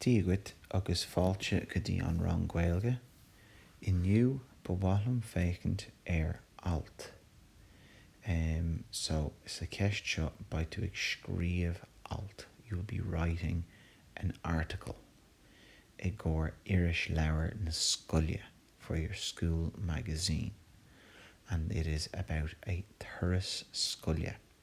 Dia dhuit agus fáilte go dtí an rang Gaeilge. Inniu ba mhaith liom féachaint ar alt. Em so sa cheist seo beidh tú ag scríomh alt, you will be writing an article, i gcomhair irisleabhar na scoile, for your school magazine, and it is about a turas scoile.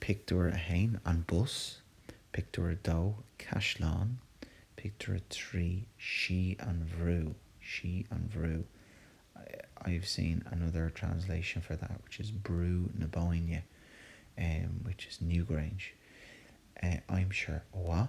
Pictiúr 1, An Bus. Pictiúr 2, Caisleán. Pictiúr 3, Sí an Bhrú. Sí an Bhrú, I've seen another translation for that which is Brú na Bóinne, which is Newgrange, aimsir mhaith.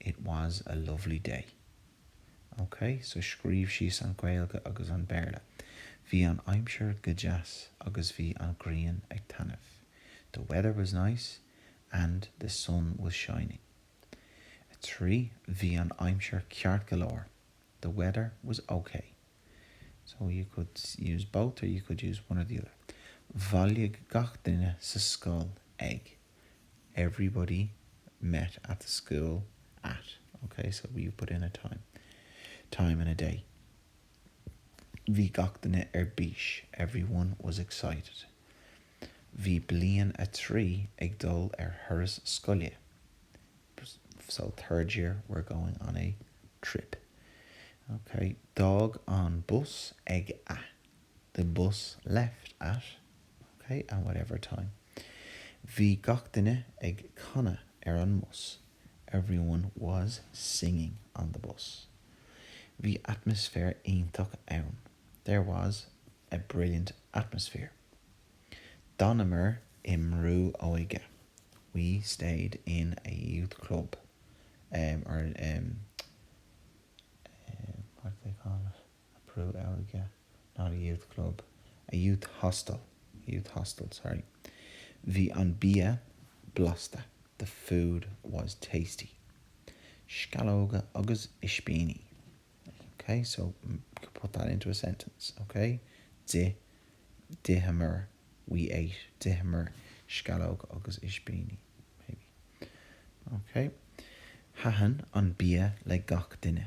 It was a lovely day. Ok, so scríobh síos an Gaeilge agus an Béarla. Bhí an aimsir go deas agus bhí an grian ag taitneamh. The weather was nice and the sun was shining. 3. Bhí an aimsir ceart go leor. The weather was ok. So you could use both or you could use one or the other. Bhailigh gach duine sa scoil ag. everybody met at the school at. OK, so you put in a time, time in a day. Bhí gach duine ar bís, everyone was excited. Bhí bliain a trí ag dul ar thuras scoile, so third year were going on a trip. OK, d'fhág an bus ag a. The bus left at, OK, at whatever time. Bhí gach duine ag canadh ar an mbus. Everyone was singing on the bus. Bhí atmaisféar iontach ann. There was a brilliant atmosphere. D'fhanamar i mbrú óige. We stayed in a youth club, or, what do they call it? a brú óige not a youth club, a youth hostel, a youth hostel, sorry bhí an bia blasta the food was tasty sceallóga agus ispíní ok so put that into a sentence ok d'ith d'itheamar we ate d'itheamar sceallóga agus ispíní maybe ok thaitin an bia le gach duine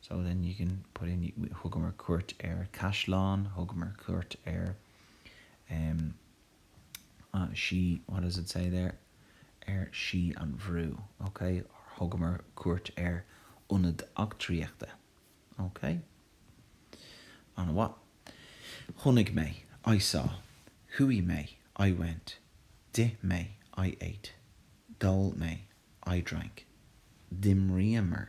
So then you can put in, thugamar cuairt ar caisleán, thugamar cuairt ar em sí, what does it say there, ar Sí an Bhrú, ok, or thugamar cuairt ar ionad eachtraíochta, ok. An-mhaith. Chonaic mé, I saw. Chuaigh mé, I went. D'ith mé, I ate. D'ól mé, I drank. D'imríomar,